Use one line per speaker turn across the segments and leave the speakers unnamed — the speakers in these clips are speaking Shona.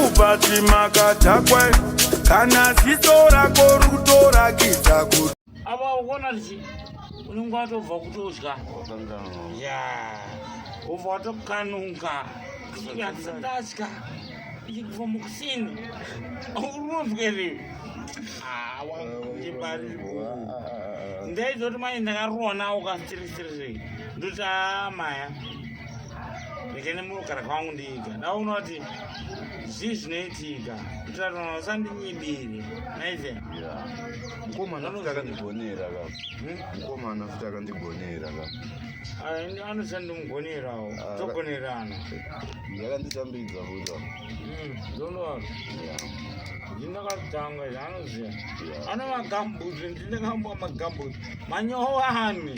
mukati makadhakwa kana ziso rako rutorakidza kuti apa ukuona kuti
unenge watobva kutodya ya ubva watokanuka kunyatsandatya ichibva mukusini unonzwere awaebariri ndaizoti mai ndakaruona ukasitirisirei ndoti aa maya rekene munogara kwangu ndiga ndaona kuti zvii zvinoitika kutirarana usandinyibiri naive
mukomana futi akandigonera ka hmm? mukomana futi akandigonera ka
anosandimugonerawo ah, togonerana
yakanditambidza futi hmm, ndondoa
ndinakatanga zvaanoziva ano magambut ndinakambwa magambut manyowani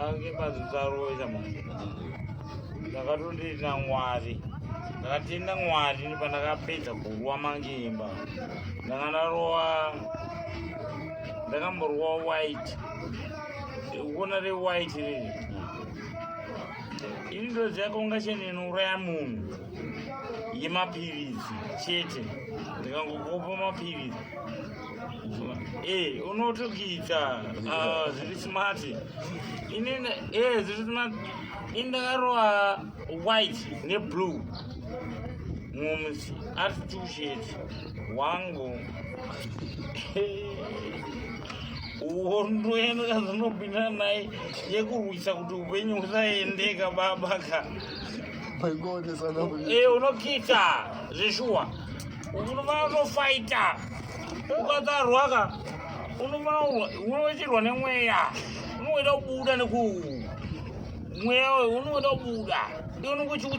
ange mazvitsarosha ndakatondina mwari ndakatenda mwari pandakapedza kurwa mangimba ndanga ndarowa ndakamborwa white kuona re white riri ini ndoziva kaungacheni inouraya munhu yemapiritsi chete ndikangokopa mapiritsi Eh, unotukidza ah, zviri smart ini eh, zviri smart ini ndakarowa white neblue mumz ari tushet wangu hondo yenu kazvinopinda naye yekurwisa kuti upenyu usaendeka babaka eh, unokiita zveshuwa unofaita ukatarwaka unochirwa nemweya unoita kubuda neku mweya unoita kubuda ndionokuchiuti